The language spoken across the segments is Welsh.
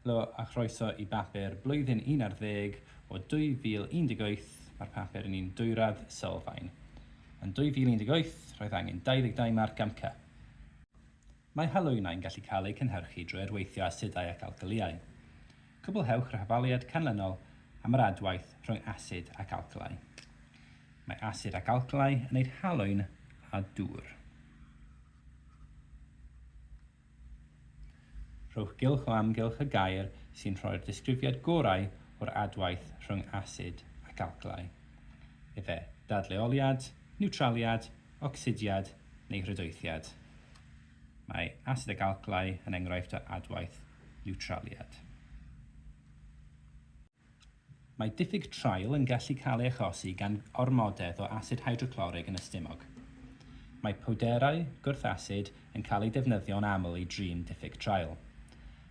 Helo a chroeso i bapur blwyddyn un ar ddeg o 2018, mae'r papur yn un dwyrad sylfaen. Yn 2018, roedd angen 22 marc am Cy. Mae halwynnau'n gallu cael eu cynhyrchu drwy arweithio asidau ac alcylïau. Cwblhewch yr hafaliad canlynol am yr adwaith rhwng asid ac alcylai. Mae asid ac alcylai yn wneud halwyn a dŵr. Rhowch gylch o amgylch y gair sy'n rhoi'r disgrifiad gorau o'r adwaith rhwng asid ac alclai, efe dadleoliad, niwtraliad, ocsidiad neu hrydoethiad. Mae asid ac alclai yn enghraifft o adwaith niwtraliad. Mae diffyg traul yn gallu cael ei achosi gan ormodedd o asid hydroclorig yn y stumog. Mae powderau gwrth-asid yn cael eu defnyddio'n aml i drin diffyg traul.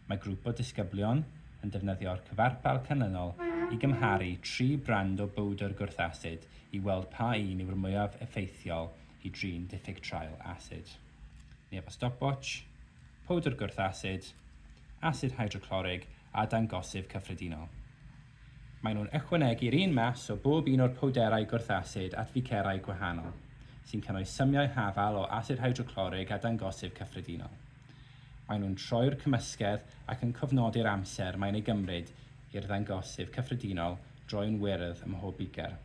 Mae grŵp o ddisgyblion yn defnyddio'r cyfarpar canlynol i gymharu tri brand o bowdr gwrth-asid i weld pa un yw'r mwyaf effeithiol i drin diffyg traul asid. neu efo stopwatsh, powdr gwrth asid, asid hydroclorig a dangosydd cyffredinol. Maen nhw'n ychwanegu'r un mas o bob un o'r powderau gwrth asid at ficerau gwahanol, sy'n cynnwys symiau hafal o asid hydroclorig a dangosydd cyffredinol. Maen nhw'n troi'r cymysgedd ac yn cofnodi'r amser mae'n ei gymryd i'r ddangosydd cyffredinol droi'n wyrdd ym mhob biger.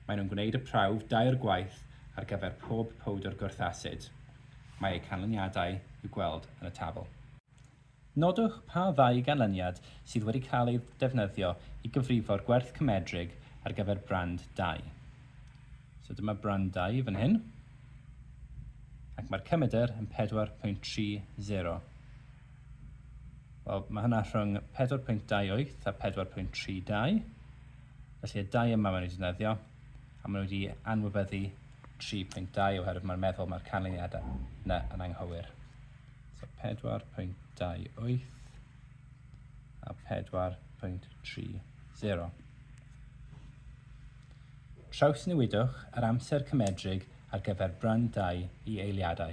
Maen nhw'n gwneud y prawf dair gwaith ar gyfer pob powdr gwrth asid. Mae eu canlyniadau i'w gweld yn y tabl. Nodwch pa ddau ganlyniad sydd wedi cael eu defnyddio i gyfrifo'r gwerth cymedrig ar gyfer brand dau. So dyma brand dau fan hyn, ac mae'r cymedr yn 4.30. Wel, mae hynna rhwng 4.28 a 4.32. Felly y dau yma maen nhw wedi defnyddio, a maen nhw wedi anwybyddu 3.2 oherwydd mae'n meddwl mae'r canlyniadau yna yn anghywir. So 4.28 a 4.30. Trawsnewidwch yr amser cymedrig ar gyfer brand 2 i eiliadau.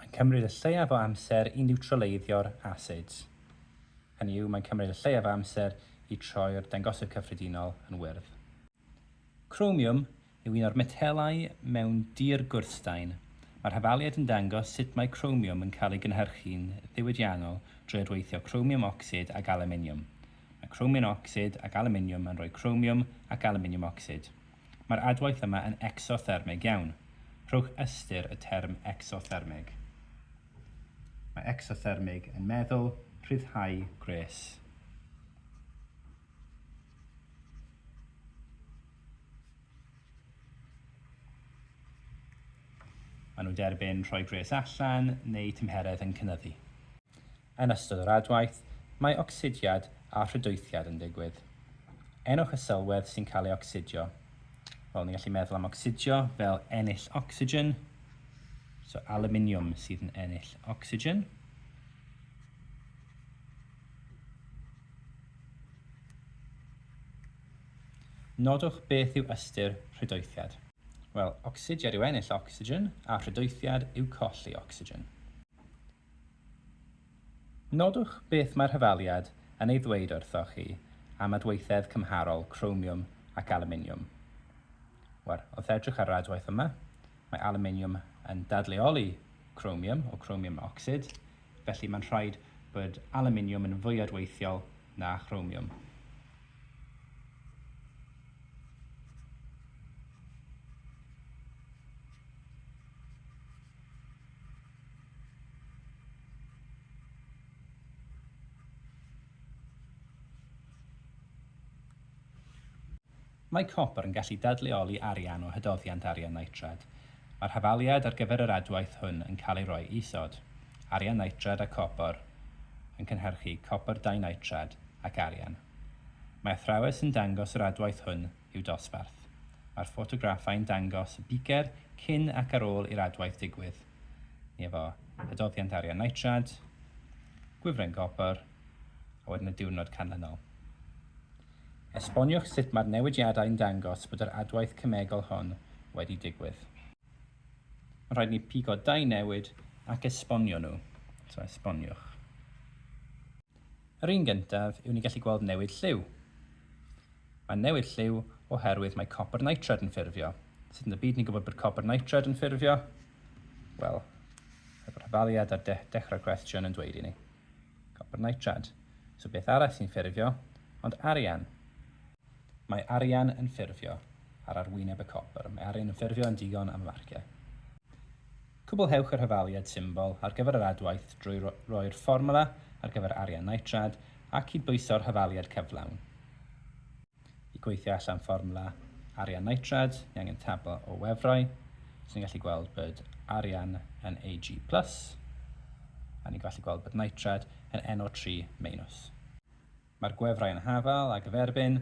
Mae'n cymryd y lleiaf o amser i niwtraleiddio'r asids. Hynny yw, mae'n cymryd y lleiaf o amser i troi'r dangosydd cyffredinol yn wyrdd. Cromiwm yw un o'r metelau mewn dir gwrthstaen. Mae'r hafaliad yn dangos sut mae cromiwm yn cael ei gynhyrchu'n ddiwydiannol drwy adweithio cromiwm ocsid ag alwminiwm. Mae cromiwm ocsid ac alwminiwm yn rhoi cromiwm ac alwminiwm ocsid. Mae'r adwaith yma yn ecsothermig iawn. Rhowch ystyr y term ecsothermig. Mae ecsothermig yn meddwl rhyddhau gwres. Maen nhw'n derbyn rhoi gwres allan neu tymheredd yn cynyddu. Yn ystod yr adwaith, mae ocsidiad a rhydoethiad yn digwydd. Enwch y sylwedd sy'n cael ei ocsidio. Wel, ni'n gallu meddwl am ocsidio fel ennill ocsigen. So, aluminium sydd yn ennill ocsigen. Nodwch beth yw ystyr rhydoethiad. Wel, ocsidiad yw ennill ocsigen a rhydoethiad yw colli ocsigen. Nodwch beth mae'r hyfaliad yn ei ddweud wrthoch chi am adweithedd cymharol cromiwm ac alwminiwm. Wel, wrth edrych ar yr adwaith yma, mae alwminiwm yn dadleoli cromiwm o cromiwm ocsid, felly mae'n rhaid bod alwminiwm yn fwy adweithiol na chromiwm. Mae copr yn gallu dadleoli arian o hydoddiant arian nitrad. Mae'r hafaliad ar gyfer yr adwaith hwn yn cael ei roi isod, arian nitrad a copr yn cynhyrchu copr dinitrad ac arian. Mae athrawes yn dangos yr adwaith hwn i'w dosbarth. Mae'r ffotograffau'n dangos y bicer cyn ac ar ôl i'r adwaith digwydd. Ni efo adoddiant arian nitrad, gwifren gopr, a wedyn y diwrnod canlynol. Esboniwch sut mae'r newidiadau'n dangos bod yr adwaith cemegol hon wedi digwydd. Mae'n rhaid i ni pigo dau newid ac esbonio nhw. So esboniwch. Yr un gyntaf yw ni gallu gweld newid lliw. Mae'n newid lliw oherwydd mae copr nitred yn ffurfio. Sut yn y byd ni'n gwybod bod copr nitred yn ffurfio? Wel, yr rhyfaliad ar de dechrau'r cwestiwn yn dweud i ni. Copr nitred. So beth arall sy'n ffurfio? Ond arian. Mae arian yn ffurfio ar arwyneb y copr. Mae arian yn ffurfio yn digon am y marciau. Cwblhewch y rhyfaliad symbol ar gyfer yr adwaith drwy roi'r fformwla ar gyfer arian nitrad a cydbwyso'r hyfaliad cyflawn. I gweithio allan fformwla arian nitrad, ni angen tabl o wefrau, so ni'n gallu gweld bod arian yn Ag+, a ni'n gallu gweld bod nitrad yn NO3-. Mae'r gwefrau yn hafal a gyferbyn,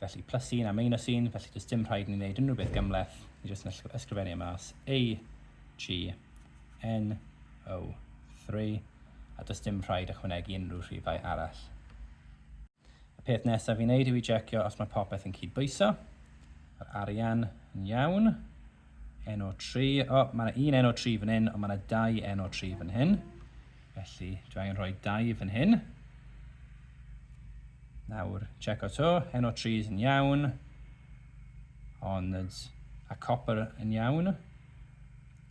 felly plus un a minus un, felly does dim rhaid i ni wneud unrhyw beth gymhleth, ni jyst yn ysgrifennu e mas, A, G, N, O, 3, a does dim rhaid ychwanegu unrhyw rhifau arall. Y peth nesaf i wneud yw i jecio os mae popeth yn cydbwyso. Mae'r arian yn iawn. NO3, o, mae yna un NO3 fan hyn, ond mae yna dau NO3 fan hyn. Felly, dwi angen rhoi dau fan hyn. Nawr, check o to, NO3 yn iawn, ond a copper yn iawn.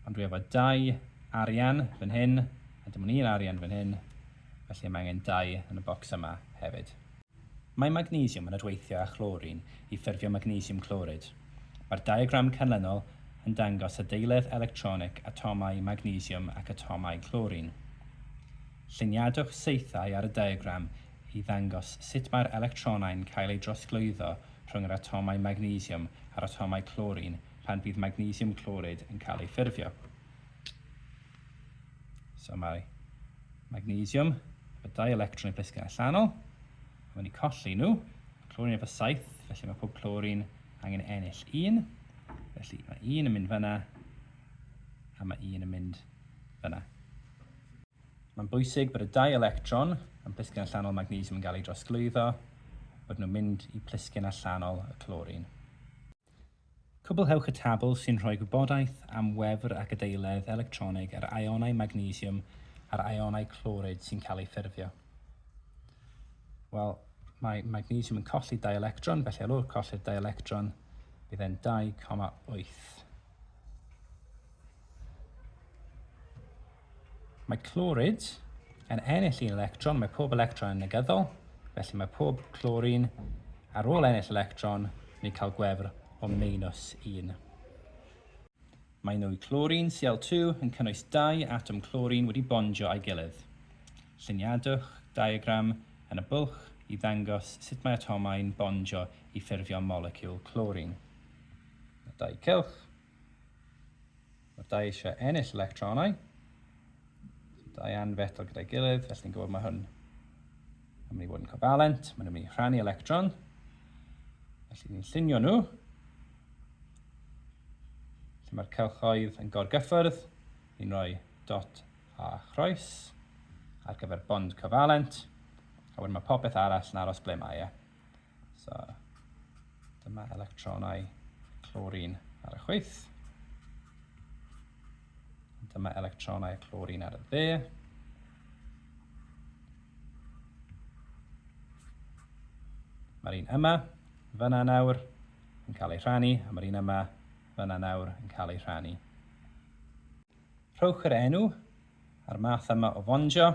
Ond dwi efo dau arian fan hyn, a dim ond un arian fan hyn, felly mae angen dau yn y bocs yma hefyd. Mae magnesiwm yn adweithio â chlorin i ffurfio magnesiwm clorid. Mae'r diagram canlynol yn dangos adeiledd electronig atomau magnesiwm ac atomau clorin. Lluniadwch saethau ar y diagram i ddangos sut mae'r electronau'n cael eu drosglwyddo rhwng yr atomau magnesiwm a'r atomau clorin pan fydd magnesiwm clorid yn cael ei ffurfio. So mae magnesiwm efo dau electron i blisgyn allanol, a mae'n ei colli nhw. Clorin efo saith, felly mae pob clorin angen ennill un. Felly mae un yn mynd fyna, a mae un yn mynd fyna. Mae'n bwysig bod y dau electron yn plisgyn allanol magnesiwm yn cael ei drosglwyddo, bod nhw'n mynd i plisgyn allanol y clorin. Cwblhewch y tabl sy'n rhoi gwybodaeth am wefr a gydaeledd electronig yr ionau magnesiwm a'r ionau clorid sy'n cael eu ffurfio. Wel, mae magnesiwm yn colli dau electron, felly ar ôl colli'r dau electron, bydd e'n 2,8. Mae clorid yn ennill un electron, mae pob electron yn negyddol, felly mae pob clorin ar ôl ennill electron, ni'n cael gwefr o meinus 1. Mae nwy clorin Cl2 yn cynnwys dau atom clorin wedi bondio â'i gilydd. Lluniadwch diagram yn y bwlch i ddangos sut mae atomau'n bondio i ffurfio moleciwl clorin. Mae dau cylch. Mae'r dau eisiau ennill electronau. Dau anfetal gyda'i gilydd, felly ni'n gwybod mae hwn yn mynd i fod yn covalent. Mae'n mynd i rhannu electron. Felly ni'n llunio nhw. Felly mae'r cylchoedd yn gorgyffyrdd. Ni'n rhoi dot a chroes ar gyfer bond covalent. A wedyn mae popeth arall yn aros ble mae e. So, dyma electronau clorin ar y chwyth. Dyma electronau clorin ar y dde. Mae'r un yma, fyna nawr, yn cael ei rhannu, a mae'r un yma, fyna nawr, yn cael ei rhannu. Rhowch yr enw a'r math yma o fondio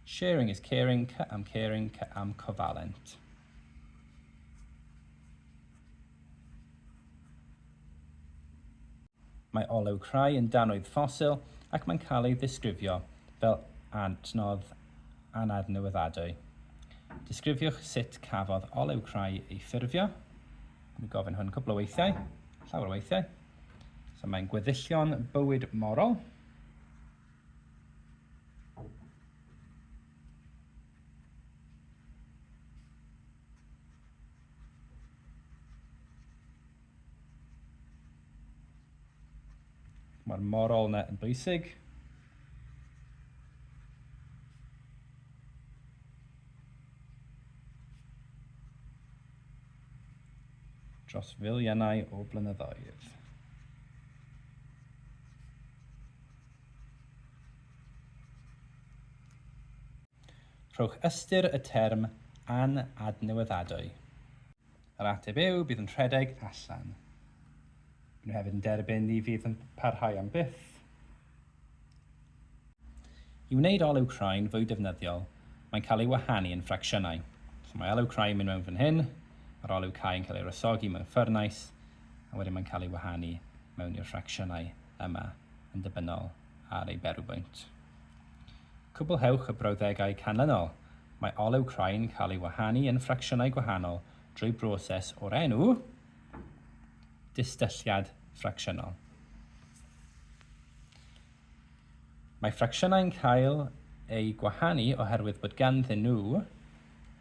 Sharing is caring, cy am caring, cy am cofalent. Mae olew crai yn danoedd ffosil ac mae'n cael ei ddisgrifio fel adnodd anadnewyddadwy. Disgrifiwch sut cafodd olew crai ei ffurfio. Mae gofyn hwn cwpl o weithiau, llawer o weithiau. So mae'n gweddillion bywyd morol. Mae'r moral yna yn bwysig. Dros filiynau o blynyddoedd. Rhowch ystyr y term an-adnewyddadwy. Yr ateb yw, bydd yn rhedeg allan. Maen nhw hefyd yn derbyn ni fydd yn parhau am byth. I wneud olew croen fwy defnyddiol, mae'n cael ei wahanu yn ffracsiynau. So mae olew croen yn mynd mewn fan hyn, mae'r olew cau yn cael ei wresogi mewn ffyrnais, a wedyn mae'n cael ei wahanu mewn i'r ffracsiynau yma. yn ddibynnol ar ei berwbwynt. Cwblhewch y brawddegau canlynol, Mae olew crain cael ei wahanu yn ffracsiynau gwahanol drwy broses o'r enw distylliad ffracsiynol. Mae ffracsiynau'n cael eu gwahanu oherwydd bod ganddyn nhw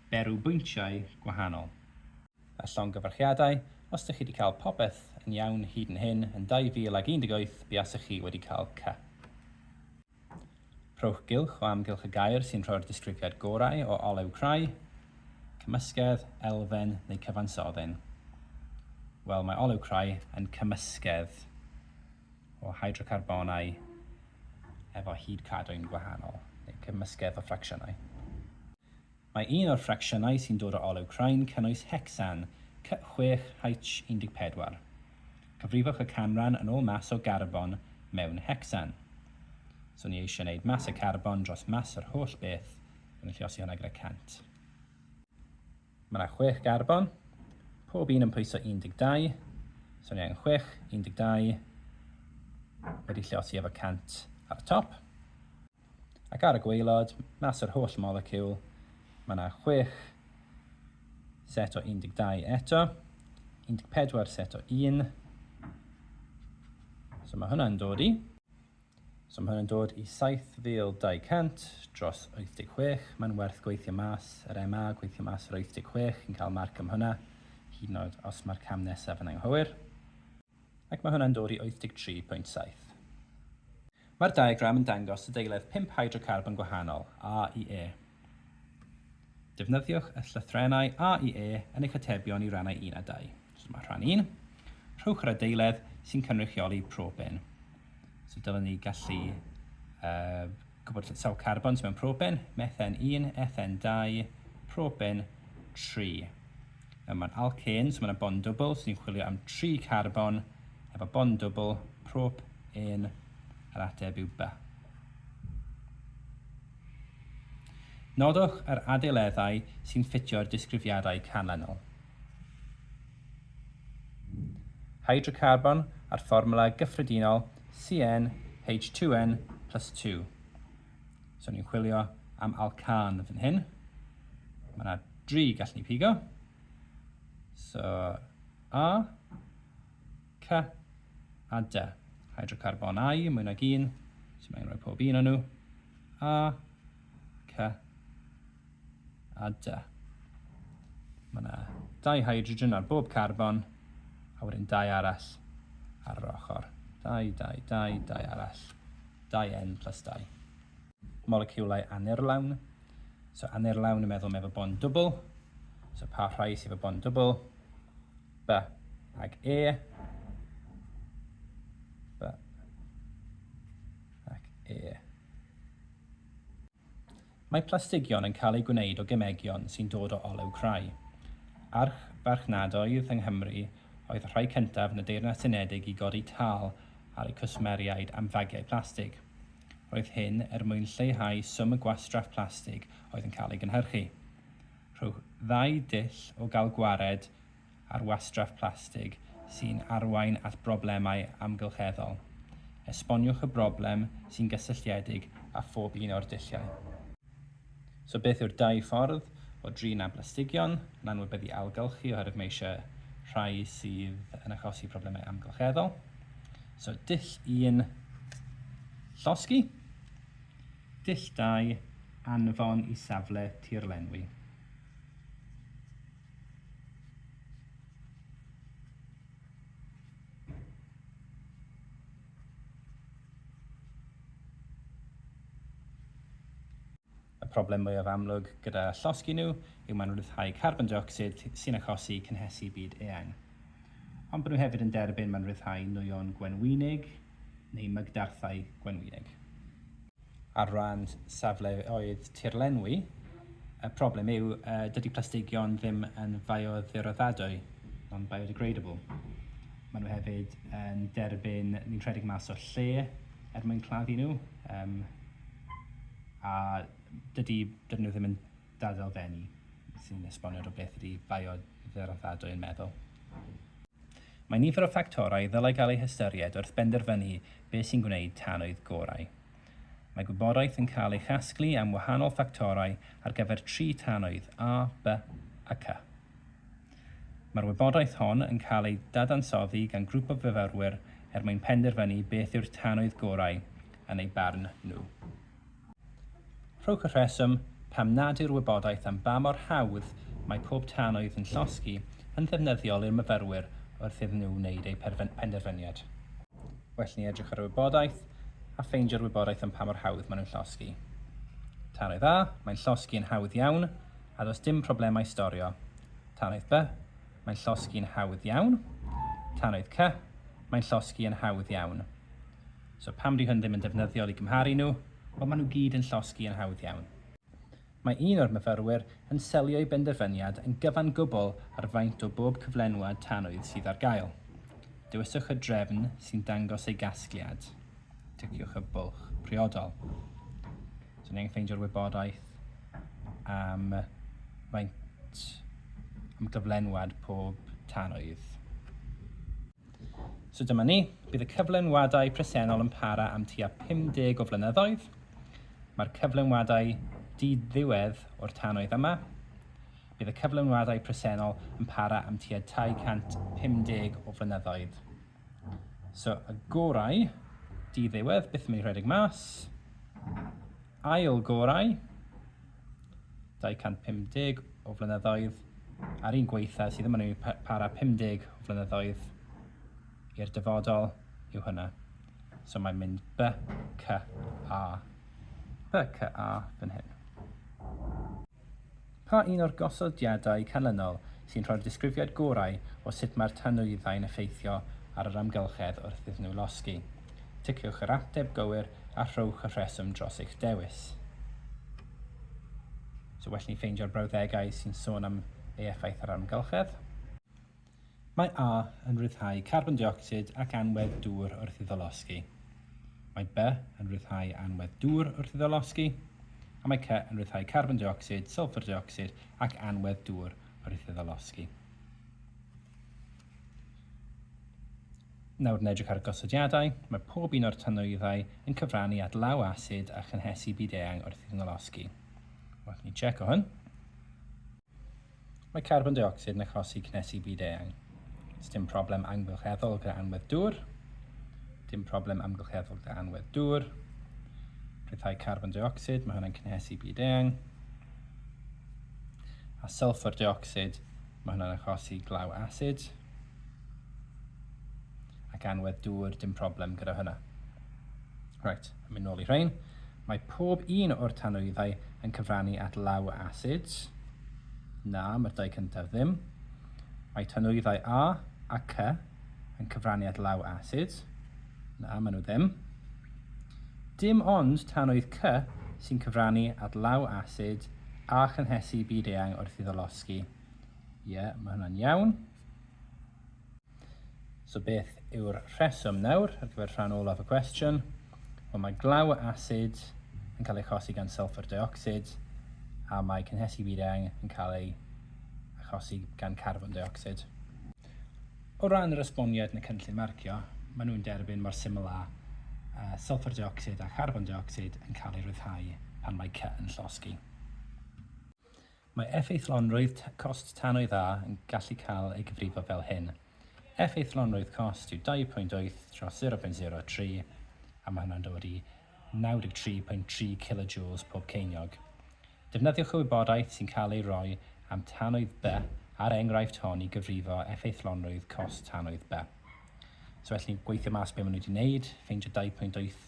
berwbwyntiau gwahanol. a llongyfarchiadau os dych chi wedi cael popeth yn iawn hyd yn hyn yn 2018 buasech chi wedi cael ca. Rhowch gylch o amgylch y gair sy'n rhoi'r disgrifiad gorau o olew crai, cymysgedd, elfen neu cyfansoddyn. Wel, mae olew crai yn cymysgedd o hydrocarbonau efo hyd cadwyn gwahanol, neu cymysgedd o ffracsiynau. Mae un o'r ffracsiynau sy'n dod o olew crain cynnwys hecsan, C6H14. Cyfrifwch y canran yn ôl mas o garbon mewn hecsan. So ni eisiau wneud mas y carbon dros mas yr holl beth, felly llosi hwnna gyda 100. Mae yna chwech garbon, pob un yn pwyso 12, so ni angen chwech, 12, wedi llosi efo 100 ar y top. Ac ar y gwaelod, mas o'r holl moleciwl, mae yna chwech set o 12 eto, 14 set o 1. So mae hwnna'n dod i. So mae hwnna'n dod i 7,200 dros 86. Mae'n werth gweithio mas yr MA, gweithio mas yr 86, chi'n cael marc am hwnna, hyd yn oed os mae'r cam nesaf yn anghywir. ac mae hwnna'n dod i 83.7. Mae'r diagram yn dangos y deiledd pump hydrocarbon gwahanol, A i E. Defnyddiwch y llythrennau A i E yn eich atebion i rannau 1 a 2. So dyma rhan 1. Rhowch yr adeiledd sy'n cynrychioli propen. So dylwn ni gallu uh, Gwybod lle sawl carbon sydd mewn propen, methen 1, ethen 2, propen 3. Nawr mae'n alcên, so mae yna bond dwbl, so ni'n chwilio am 3 carbon efo bond dwbl, prop 1, yr ateb yw B. Nodwch yr adeileddau sy'n ffitio'r disgrifiadau canlynol. Hydrocarbon a'r fformwla gyffredinol CN H2N plus 2. So ni'n chwilio am alcan fan hyn. Mae yna dri gall ni pigo. So A, C a D. Hydrocarbon I, mwy nag un. So mae'n rhoi pob un o'n nhw. A, C, a dy. Mae yna dau hydrogen ar bob carbon, a wedyn dau arall ar yr ochr. Dau, dau, dau, dau arall, dau N plus dau. Moleciwlau anurlawn. So anurlawn yn meddwl mae efo bond dwbl. So pa rhai sydd efo bond dwbl? B ag E. B ac E. Mae plastigion yn cael eu gwneud o gemegion sy'n dod o olew crai. Archfarchnadoedd yng Nghymru oedd y rhai cyntaf yn y Deyrnas Unedig i godi tâl ar eu cwsmeriaid am fagiau plastig. Roedd hyn er mwyn lleihau swm y gwastraff plastig oedd yn cael ei gynhyrchu. Rhowch ddau dull o gael gwared ar wastraff plastig sy'n arwain at broblemau amgylcheddol. Esboniwch y broblem sy'n gysylltiedig â phob un o'r dulliau. So beth yw'r dau ffordd o drin â blastigion yn anwybyddu ailgylchu oherwydd mae eisiau rhai sydd yn achosi problemau amgylcheddol? So dull un, llosgi. Dull dau, anfon i safle tirlenwi. Y problem mwyaf amlwg gyda llosgi nhw yw mae'n rhyddhau carbon deuocsid sy'n achosi cynhesu byd eang. Ond bod nhw hefyd yn derbyn mae'n rhyddhau nwyon gwenwynig neu mygdarthau gwenwynig. ar ran safleoedd tirlenwi, y problem yw dydy plastigion ddim yn fioddioraddadwy, non-biodegradable. Maen nhw hefyd yn derbyn ni'n rhedeg mas o'r lle er mwyn claddu nhw, a dydy nhw ddim yn Dadl Fenni sy'n esbonio o beth ydy bioddeddfadwy yn meddwl. Mae nifer o ffactorau ddylai gael eu hystyried wrth benderfynu beth sy'n gwneud tanwydd gorau. Mae gwybodaeth yn cael ei chasglu am wahanol ffactorau ar gyfer tri tanwydd, A, B a C. Mae'r wybodaeth hon yn cael ei dadansoddi gan grŵp o fyfyrwyr er mwyn penderfynu beth yw'r tanwydd gorau yn eu barn nhw. Rhowch y rheswm pam nad yw'r wybodaeth am ba mor hawdd mae pob tanwydd yn llosgi yn ddefnyddiol i'r myfyrwyr wrth iddyn nhw wneud eu penderfyniad. Well i ni edrych ar y wybodaeth a ffeindio'r wybodaeth am pa mor hawdd maen nhw'n llosgi. Tanwydd A, mae'n llosgi yn hawdd iawn, a does dim problemau storio. Tanwydd B, mae'n llosgi yn hawdd iawn. Tanwydd C, mae'n llosgi yn hawdd iawn. So pam di hwn ddim yn defnyddiol i gymharu nhw? Wel maen nhw gyd yn llosgi yn hawdd iawn. Mae un o'r myfyrwyr yn selio ei benderfyniad yn gyfan gwbl ar faint o bob cyflenwad tanwydd sydd ar gael. Dewiswch y drefn sy'n dangos ei gasgliad. Ticiwch y bwlch priodol. So ni angen ffeindio'r wybodaeth am faint am gyflenwad pob tanwydd. So dyma ni, bydd y cyflenwadau presennol yn para am tua 50 o flynyddoedd. Mae'r cyflenwadau di-ddiwedd o'r tannoedd yma. Bydd y cyflenwadau presennol yn para am tua 250 o flynyddoedd. So y gorau di-ddiwedd byth yn mynd i rhedeg mas. Ail gorau, 250 o flynyddoedd a'r un gweitha sydd yn mynd i para 50 o flynyddoedd i'r dyfodol yw hynna. So mae'n mynd by, cy, a. By, cy, a fan hyn. Pa un o'r gosodiadau canlynol sy'n rhoi'r disgrifiad gorau o sut mae'r tanwyddau'n effeithio ar yr amgylchedd wrth iddyn nhw losgi? Ticiwch yr ateb gywir a rhowch y rheswm dros eich dewis. So well ni ffeindio'r brawddegau sy'n sôn am ei effaith ar amgylchedd. Mae A yn rhyddhau carbon deuocsid ac anwedd dŵr wrth iddo losgi. Mae B yn rhyddhau anwedd dŵr wrth iddo losgi. A mae C yn rhyddhau carbon deuocsid, sylffr deuocsid ac anwedd dŵr wrth iddo losgi. Nawr yn edrych ar y gosodiadau, mae pob un o'r tanwyddau yn cyfrannu at law asid a chynhesu byd-eang wrth iddyn nhw losgi. Wrth ni tseco hwn, mae carbon deuocsid yn achosi cynhesu byd-eang. Sdim problem amgylcheddol gyda anwedd dŵr. Dim problem amgylcheddol gyda anwedd dŵr. Rhyddhau carbon deuocsid, mae hwnna'n cynhesu byd-eang. A sylffwr deuocsid, mae hwnna'n achosi glaw asid. Ac anwedd dŵr, dim problem gyda hynna. Right, yn mynd nôl i rhain. Mae pob un o'r tanwyddau yn cyfrannu at law acids. Na, mae'r dau cyntaf ddim. Mae tanwyddau A a C yn cyfrannu at law acids. Na, maen nhw ddim. Dim ond tanwydd C sy'n cyfrannu at law acid a chynhesu byd-eang wrth iddo losgi. Ie, yeah, mae hwnna'n iawn. So beth yw'r rheswm nawr ar gyfer rhan olaf y cwestiwn? Wel, mae glaw y asid yn cael ei chosi gan sulfur dioxid a mae cynhesu wireng yn cael ei achosi gan carbon dioxid. O ran yr esboniad yn y cynllun marcio, maen nhw'n derbyn mor syml â uh, sulfur dioxid a charbon dioxid yn cael ei ryddhau pan mae cy yn llosgi. Mae effeithlonrwydd cost tanwy dda yn gallu cael ei gyfrifo fel hyn, Effeithlonrwydd cost yw 2.8 dros 0.03, a mae hwnna'n dod i 93.3 kilojoules pob ceiniog. Defnyddiwch y wybodaeth sy'n cael ei roi am tanwydd B a'r enghraifft hon i gyfrifo effeithlonrwydd cost tanwydd B. So felly, gweithio mas be maen nhw wedi wneud, ffeindio 2.8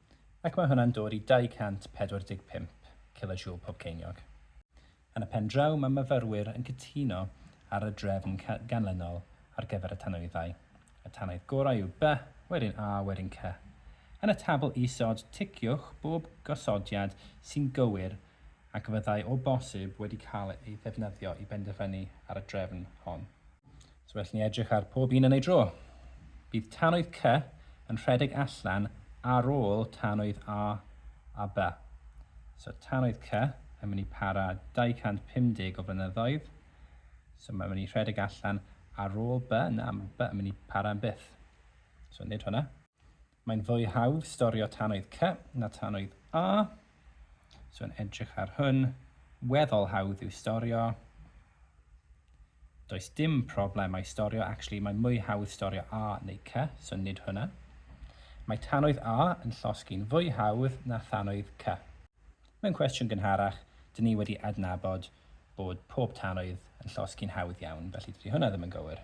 ac mae hwnna'n dod i 245 cilojoule pob ceiniog. Yn y pen draw, mae myfyrwyr yn cytuno ar y drefn ganlynol ar gyfer y tanwyddau, y tanaidd gorau yw B, wedyn A, wedyn C. Yn y tabl isod, ticiwch bob gosodiad sy'n gywir ac fyddai o bosib wedi cael ei ddefnyddio i benderfynu ar y drefn hon. So well ni edrych ar pob un yn ei dro. Bydd tanwydd C yn rhedeg allan ar ôl tanwydd A a B. So tanwydd C yn mynd i para 250 o flynyddoedd. So mae'n mynd i rhedeg allan ar ôl B. Na, mae B yn mynd i para yn byth. So nid hwnna. Mae'n fwy hawdd storio tannoedd C na tannoedd A. So yn edrych ar hwn, weddol hawdd yw storio. Does dim problemau storio, actually mae'n mwy hawdd storio A neu C, so nid hwnna. Mae tannoedd A yn llosgi'n fwy hawdd na thannoedd C. Mewn cwestiwn gynharach, dyn ni wedi adnabod bod pob tannoedd yn llosgi'n hawdd iawn, felly dydy hwnna ddim yn gywir.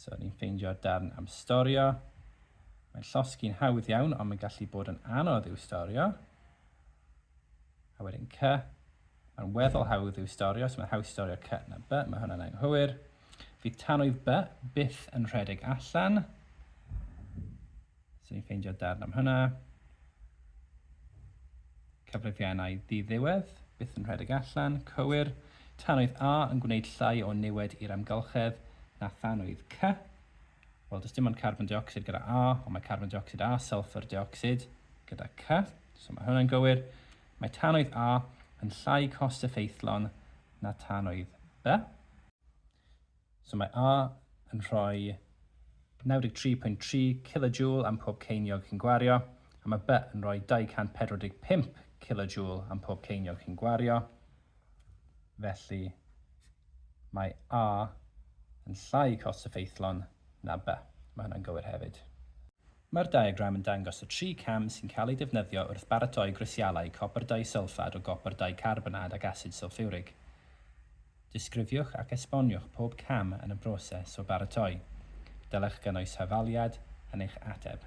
So ni'n ffeindio'r darn am storio. Mae'n llosgi'n hawdd iawn, ond mae'n gallu bod yn anodd i'w storio. A wedyn cy, mae'n weddol hawdd i'w storio, so mae'n hawdd storio cy na by, mae hwnna'n anghywir. Fydd tanwydd by byth yn rhedeg allan. So ni'n ffeindio darn am hynna. Cyfrifiannau diddiwedd, byth yn rhedeg allan, cywir. Tanwydd A yn gwneud llai o niwed i'r amgylchedd na thanwydd C. Wel, does dim ond carbon dioxid gyda A, ond mae carbon dioxid a sulfur dioxid gyda C, so mae hwnna'n gywir. Mae tanwydd A yn llai cost effeithlon na tanwydd B. So mae A yn rhoi 93.3 kilojoule am pob ceiniog chi'n gwario, a mae B yn rhoi 245 kilojoule am pob ceiniog chi'n gwario. Felly, mae A yn llai cost effeithlon na B. Mae hwnna'n gywir hefyd. Mae'r diagram yn dangos y tri cam sy'n cael eu defnyddio wrth baratoi grisialau copr disylffad o gopr dicarbonad ac asid sylffiwrig. Disgrifiwch ac esboniwch pob cam yn y broses o baratoi. Dylech gynnwys hafaliad yn eich ateb.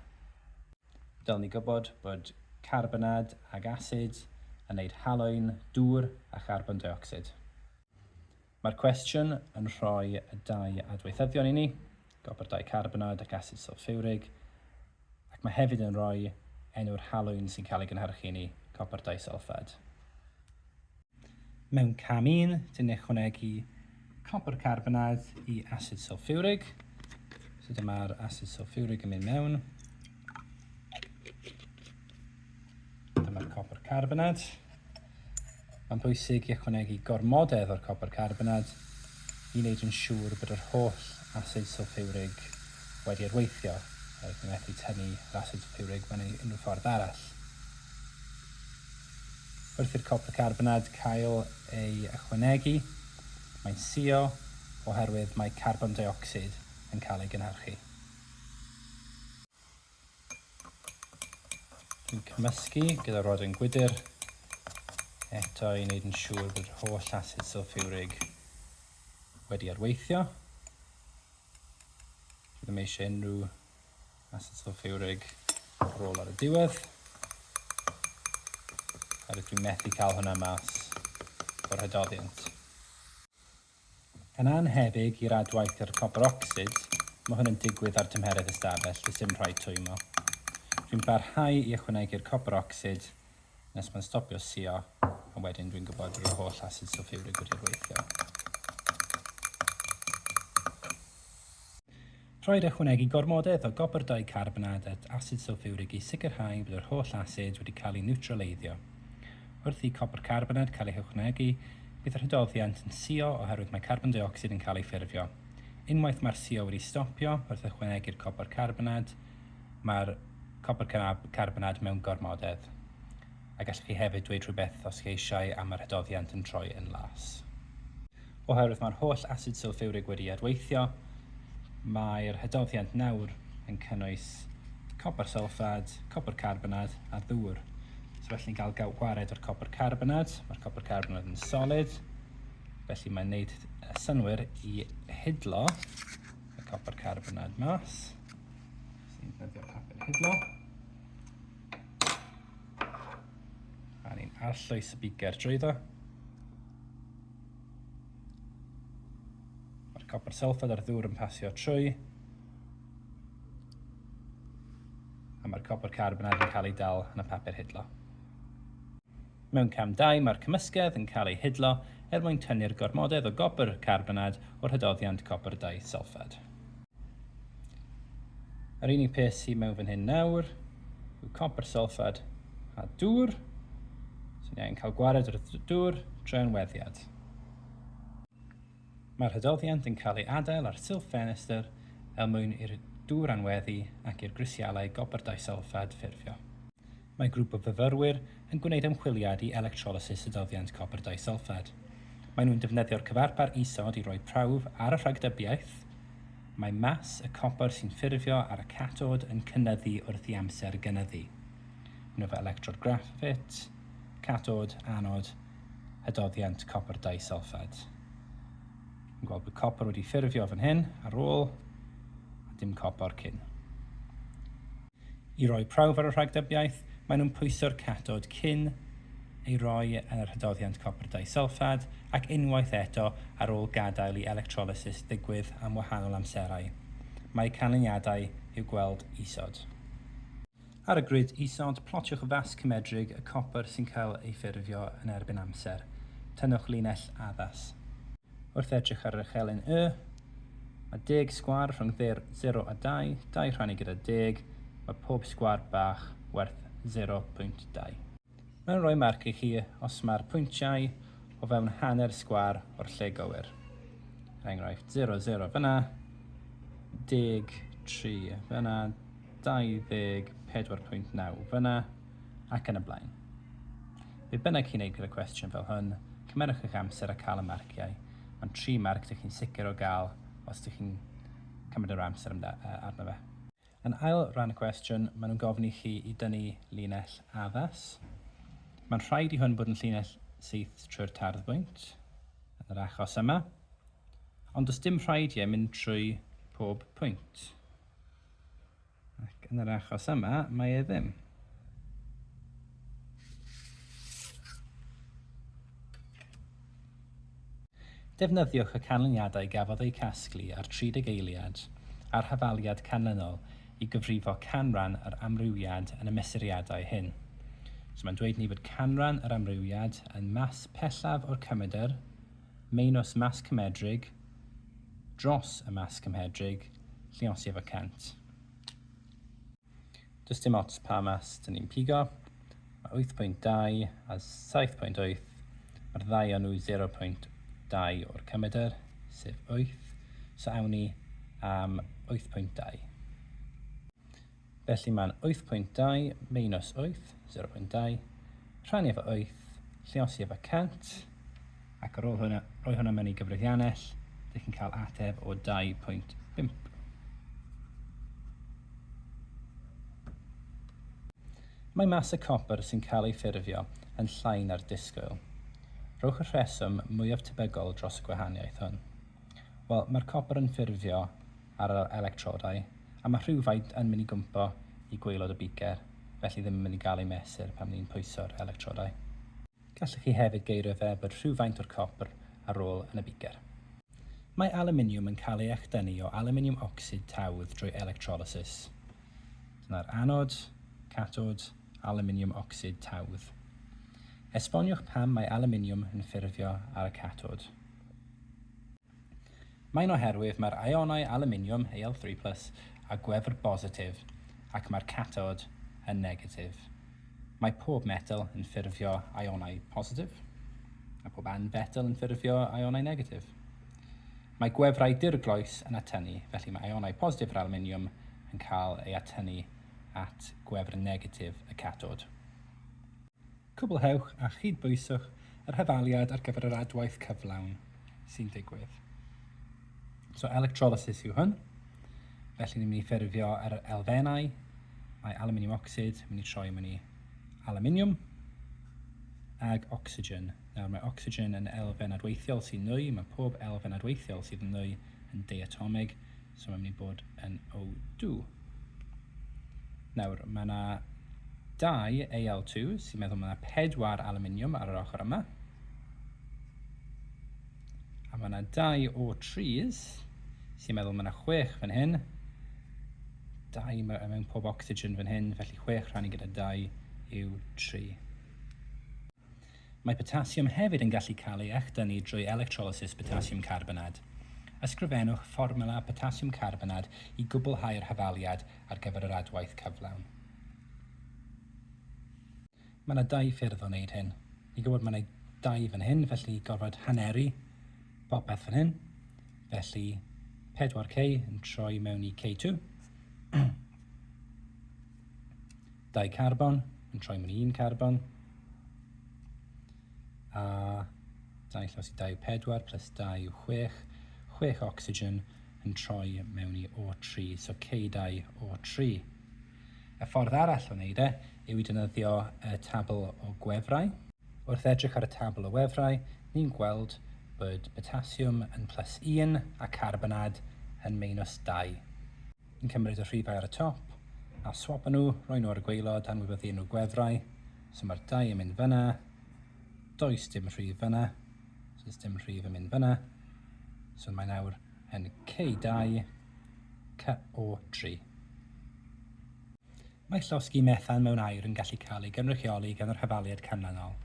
Dylwn ni gwybod bod carbonad ac asid yn wneud haloin, dŵr a charbon deuocsid. Mae'r cwestiwn yn rhoi y dau adweithyddion i ni, gobr dicarbonad ac asid sylffiwrig, ac mae hefyd yn rhoi enw'r haloin sy'n cael ei gynhyrchu i ni, copr disylffad. Mewn cam un, dyn ychwanegu copr carbonaidd i asid sulfuric. So dyma'r asid sulfuric yn mynd mewn. Dyma'r copr carbonad. Mae'n bwysig i ychwanegu gormodedd o'r copr carbonad i wneud yn siŵr bod yr holl asid sulfuric wedi adweithio. Rydyn methu tynnu yr asid sulfuric mewn unrhyw ffordd arall. Wrth i'r copr carbonad cael ei ychwanegu, mae'n suo oherwydd mae carbon deuocsid yn cael ei gynhyrchu. Dwi'n cymysgu gyda rodyn gwydr eto i wneud yn siŵr bod yr holl asid sylffiwrig wedi adweithio. Dwi ddim eisiau unrhyw A sut o ffiwrig rôl ar y diwedd. A rydw i'n methu cael hwnna mas o'r hydoddiant. Yn annhebyg i'r adwaith i'r copr ocsid, mae hwn yn digwydd ar tymheredd ystafell, does dim rhaid twymo. Dwi'n parhau i ychwanegu'r copr ocsid nes mae'n stopio suo, a wedyn dwi'n gwybod roedd holl asid sylffurig wedi gweithio. Rhaid ychwanegu gormodoedd o gopr dicarbonad at asid sylffurig i sicrhau bod yr holl asid wedi cael ei niwtraleiddio. Wrth i copr carbonad cael ei hychwanegu, bydd yr hydoddiant yn suo oherwydd mae carbon deuocsid yn cael ei ffurfio. Unwaith mae'r suo wedi stopio wrth ychwanegu'r copr carbonad, Mae'r copr cynab carbonad mewn gormodedd, a gallech chi hefyd dweud rhywbeth os chi eisiau am yr hydoddiant yn troi yn las. Oherwydd mae'r holl asid sylffiwrig wedi adweithio, mae'r hydoddiant nawr yn cynnwys copr sylffad, copr carbonad a ddŵr. So felly'n cael gwared o'r copr carbonad, mae'r copr carbonad yn solid, felly mae'n neud synnwyr i hidlo y copr carbonad mas. Sy'n ddefnyddio papur hidlo. A ni'n arllwys y biger drwyddo. Mae'r copr sylffad a'r ddŵr yn pasio trwy. A mae'r copr carbonad yn cael ei dal yn y papur hidlo. Mewn cam 2, mae'r cymysgedd yn cael ei hidlo er mwyn tynnu'r gormodedd o gopr carbonad o'r hydoddiant copr dau sylffad. Yr unig peth sydd mewn fan hyn nawr yw copr solffad a dŵr. So ni angen cael gwared o'r dŵr drwy anweddiad. Mae'r hydoddiant yn cael ei adael ar silff ffenestr er mwyn i'r dŵr anweddu ac i'r grisialau gopr disolffad ffurfio. Mae grŵp o fyfyrwyr yn gwneud ymchwiliad i electrolysis y doddiant copr disulffad. Maen nhw'n defnyddio'r cyfarpar isod i roi prawf ar y rhagdybiaeth. Mae mas y copr sy'n ffurfio ar y catod yn cynyddu wrth i amser gynyddu. Nw fo electrod graffit, catod, anod, y doddiant copr disulffad. Yn gweld bod copr wedi ffurfio fan hyn ar ôl a dim copr cyn. I roi prawf ar y rhagdybiaeth, maen nhw'n pwyso'r catod cyn ei roi yn yr hydoddiant copr disylffad ac unwaith eto ar ôl gadael i electrolysis ddigwydd am wahanol amserau. Mae eu canlyniadau i'w gweld isod. Ar y grid isod, plotiwch fas cymedrig y copr sy'n cael ei ffurfio yn erbyn amser. Tynnwch linell addas. Wrth edrych ar yr echelin Y, mae deg sgwâr rhwng 0 a 2, 2 rhannu gyda deg, mae pob sgwâr bach werth 0.2. Mae'n rhoi marc i chi os mae'r pwyntiau o fewn hanner sgwâr o'r lle gywir. Er enghraifft, 0, 0 fyna, deg, tri fyna, 24.9 fyna. ac yn y blaen. Be bynnag chi'n ei gyda cwestiwn fel hwn, cymerwch eich amser a cael y marciau, ond tri marc dych chi'n sicr o gael os dych chi'n cymryd yr amser arno fe. Yn ail ran y cwestiwn, maen nhw'n gofyn i chi i dynnu linell addas. Mae'n rhaid i hwn bod yn llinell syth trwy'r tarddbwynt, yn yr achos yma, ond does dim rhaid i e mynd trwy pob pwynt. Ac yn yr achos yma, mae e ddim. Defnyddiwch y canlyniadau gafodd eu casglu ar 30 eiliad a'r hafaliad canlynol i gyfrifo canran yr amrywiad yn y mesuriadau hyn. So mae'n dweud ni fod canran yr amrywiad yn mass pellaf o'r cymedr, Maenws Mas Cymedrig, Dros y Mas Cymhedrig, Lliosif a Cent. Does dim ots pa mas dyn ni'n pigo, mae 8.2 a 7.8, mae'r ddau o nhw 0.2 o'r cymedr, sef 8, so awn ni am 8.2. Felly mae'n 8.2 minus 8, 0.2, rhannu efo 8, lliosi efo 100, ac ar ôl hwnna, rhoi hwnna mewn i gyfrifiannell, dych chi'n cael ateb o 2.5. Mae mas y copr sy'n cael ei ffurfio yn llai na'r disgwyl. Rhowch y rheswm mwyaf tebygol dros y gwahaniaeth hwn. Wel, mae'r copr yn ffurfio ar yr electrodau, a mae rhywfaint yn mynd i gwmpo i gwaelod y beaker, felly ddim yn mynd i gael ei mesur pan ni'n pwyso'r electrodau. Gallwch chi hefyd geirio fe bod rhywfaint o'r copr a rôl yn y beaker. Mae alwminiwm yn cael ei echdynnu o alwminiwm ocsid tawdd drwy electrolysis. Dyna'r anod, catod, alwminiwm ocsid tawdd. Esboniwch pam mae alwminiwm yn ffurfio ar y catod. Mae'n oherwydd mae'r ionau alwminiwm Al three plus a gwefr bositif ac mae'r catod yn negatif. Mae pob metel yn ffurfio ionau positif a pob anfetel yn ffurfio ionau negatif. Mae gwefrau dirgloes yn atynnu, felly mae ionau positif yr alwminiwm yn cael ei atynnu at gwefr negatif y catod. Cwblhewch a chydbwyswch yr hetholiad ar gyfer yr adwaith cyflawn sy'n digwydd. So electrolysis yw hwn. Felly ni'n mynd i ffurfio yr elfennau. Mae aluminium ocsid yn mynd i troi mewn i aluminium ag ocsigen. Nawr mae ocsigen yn elfen adweithiol sy'n nwy, mae pob elfen adweithiol sydd yn nwy yn deiatomig, So mae'n mynd i bod yn O2. Nawr, mae yna dau AL2 sy'n meddwl mae yna pedwar aluminium ar yr ochr yma. A mae yna dau O3s sy'n meddwl mae yna chwech fan hyn. Dau mewn pob oxygen fan hyn, felly chwech rhan i gyda dau yw tri. Mae potasiwm hefyd yn gallu cael ei echdynnu drwy electrolysis potasiwm carbonad. Ysgrifennwch fformwla potasiwm carbonad i gwblhau'r hafaliad ar gyfer yr adwaith cyflawn. Mae yna dau ffyrdd o wneud hyn. Ni'n gwybod mae yna dau fan hyn, felly gorfod haneru popeth fan hyn. Felly 4K yn troi mewn i K2. Dau carbon yn troi mewn un carbon. A dau llaws i dau pedwar plus dau yw chwech. Chwech oxygen yn troi mewn i O3, so K2 O3. Y ffordd arall o wneud e yw i dynyddio y tabl o gwefrau. Wrth edrych ar y tabl o wefrau, ni'n gweld bod potasiwm yn plus 1 a carbonad yn meinws 2. yn cymryd y rhifau ar y top a swapa nhw, rhoi nhw ar y gwaelod, anwybyddu enw gwefrau, so mae'r dau yn mynd fyna, does dim rhif fyna, so does dim rhif yn mynd fyna, so mae'n awr yn K2, CO3. Mae llosgi methan mewn aer yn gallu cael ei gynrychioli gan yr hafaliad canlynol,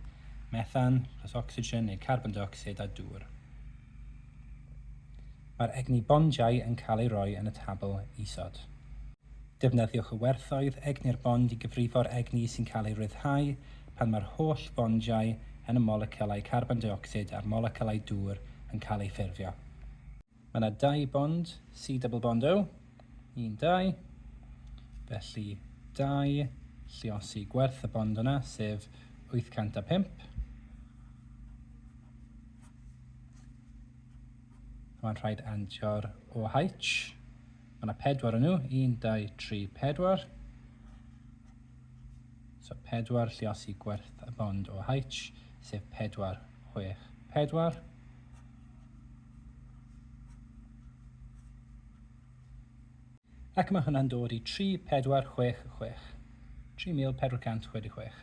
methan plus ocsigen neu carbon deuocsid a dŵr. Mae'r egni bondiau yn cael ei roi yn y tabl isod. Defnyddiwch y werthoedd egni'r bond i gyfrifo'r egni sy'n cael ei ryddhau pan mae'r holl fondiau yn y molecylau carbon deuocsid a'r molecylau dŵr yn cael eu ffurfio. Mae yna dau bond, C double bond O, un, dau. Felly, dau, lliosi gwerth y bond yna, sef 805. Mae'n rhaid andio'r OH. Mae yna pedwar yn nhw, un, dau, tri, pedwar. So, pedwar lliosi gwerth y bond OH, sef pedwar, chwech, pedwar. Ac mae hwnna'n dod i 3466. 3466.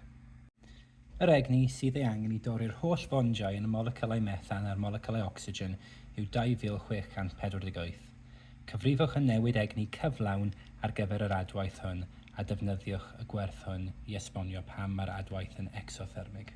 Yr egni sydd ei angen i dorri'r holl fondiau yn y moleciwlau methan a'r moleciwlau ocsigen yw 2648. Cyfrifwch y newid egni cyflawn ar gyfer yr adwaith hwn a defnyddiwch y gwerth hwn i esbonio pam mae'r adwaith yn ecsothermig.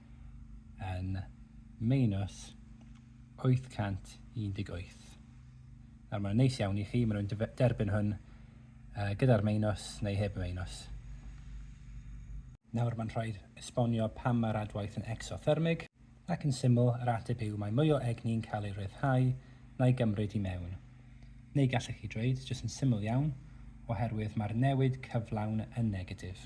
yn minus 818. Nawr mae'n neis iawn i chi, maen nhw'n derbyn hwn uh, gyda'r minus neu heb y minus. Nawr mae'n rhaid esbonio pam mae'r adwaith yn exothermig, ac yn syml yr ateb yw mae mwy o egni'n cael ei ryddhau na'i gymryd i mewn. Neu gallech chi dreuyd jyst yn syml iawn, oherwydd mae'r newid cyflawn yn negatif.